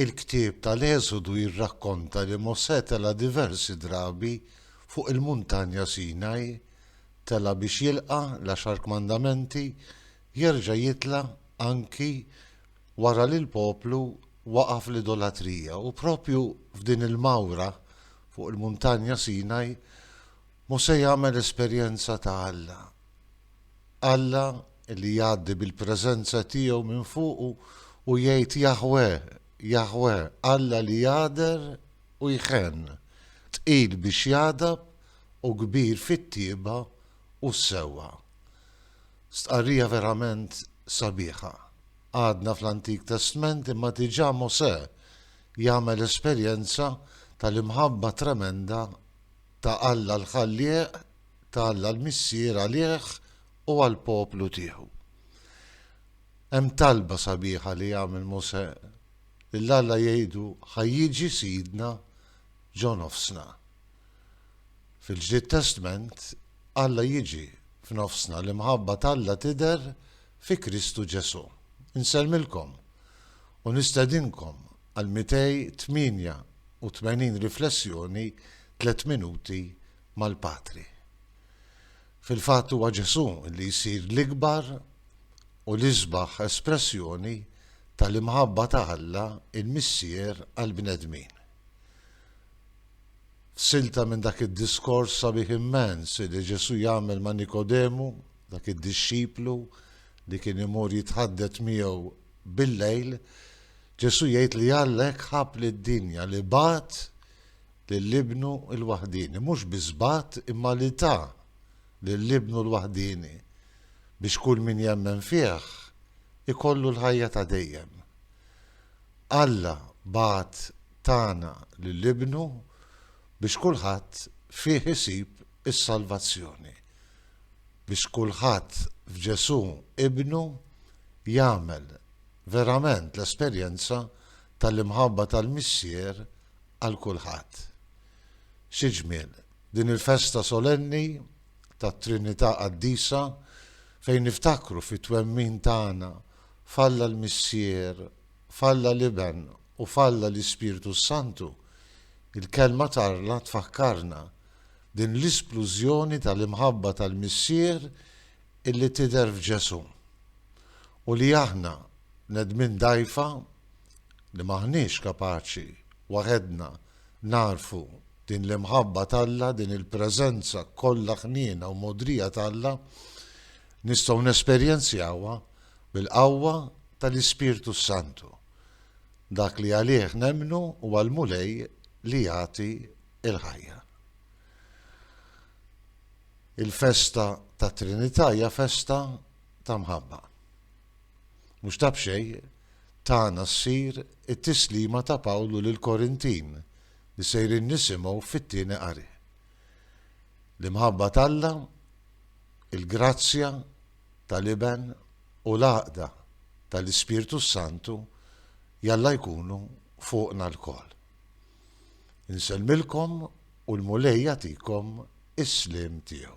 Il-ktieb tal-Eżodu jirrakkonta li Mosè tela' diversi drabi fuq il-Muntanja Sinaj, tela' biex jilqa' l-Għaxar Kmandamenti, jerġa' jitla' anki wara li l-poplu waqa' fl-idolatrija. U proprju f'din il-mawra fuq il-Muntanja Sinaj, Mosè jagħmel esperjenza ta' Alla. Alla li jgħaddi bil-preżenza tiegħu minn fuqu u jgħid Jaħweh, Jaħweh, Alla li jagħder u jħenn, tqil biex jagħdab u kbir fit-tjieba u s-sewwa. Stqarrija verament sabiħa. Għadna fl-Antik Testment imma diġà Mosè jagħmel esperjenza tal-imħabba tremenda ta' Alla l-Ħallieq ta' Alla l-Missier għalih u għall-poplu tiegħu. Hemm talba sabiħa li jagħmel Mosè lil Alla jgħidu ħa jiġi Sidna ġo nofsna. Fil-Ġdid Testment, Alla jiġi f'nofsna, l-imħabba t'Alla tidher fi Kristu Ġesù. Insellmilkom u nistedinkom għal 288 riflessjoni tliet minuti mal-Patri. Fil-fatt huwa Ġesù li jsir l-ikbar u l-isbaħ espressjoni tal-imħabba ta' Alla l-Missier għall-bnedmin. F'silta minn dak id-diskors sabiħ immens li Ġesù jagħmel ma' Nikodemu, dak id-dixxiplu li kien imur jitħaddet miegħu bil-lejl, Ġesù jgħid li Alla hekk ħabb lid-dinja li bagħat lil Ibnu l-waħdieni, mhux biss bagħat imma li ta lil Ibnu l-waħdieni biex kull min jemmen fih ikollu l-ħajja ta' dejjem. Alla bagħat tagħna lil Ibnu biex kulħadd fih isib is-salvazzjoni, biex kulħadd f'Ġesù Ibnu jagħmel verament l-esperjenza tal-imħabba tal-Missier għal kulħadd. Xi ġmiel, din il-festa solenni tat-Trinità Qaddisa fejn niftakru fit-twemmin tagħna f'Alla l-Missier, f'Alla l-Iben u f'Alla l-Ispirtu s-Santu, il-Kelma t'Alla tfakkarna din l-isplużjoni tal-imħabba tal-Missier illi tidher f'Ġesù u li aħna, bnedmin dgħajfa, li m'aħniex kapaċi waħedna nagħrfu din l-imħabba t'Alla, din il-preżenza kollha ħniena u mogħdrija t'Alla, nistgħu nesperjenzjawha bil-qawwa tal-Ispirtu s-Santu, dak li għalih nemmnu huwa l-Mulej li jagħti l-ħajja. Il-festa tat-Trinità hija festa ta' mħabba. Mhux ta' b'xejn tagħna ssir it-tislima ta' Pawlu lill-Korintin li sejrin nisimgħu fit-tieni qari. L-imħabba t'Alla, il-grazzja tal-Iben u l-għaqda tal-Ispirtu s-Santu jalla jkunu fuqna lkoll. Insellmilkom u l-Mulej jagħtikom is-sliem tiegħu.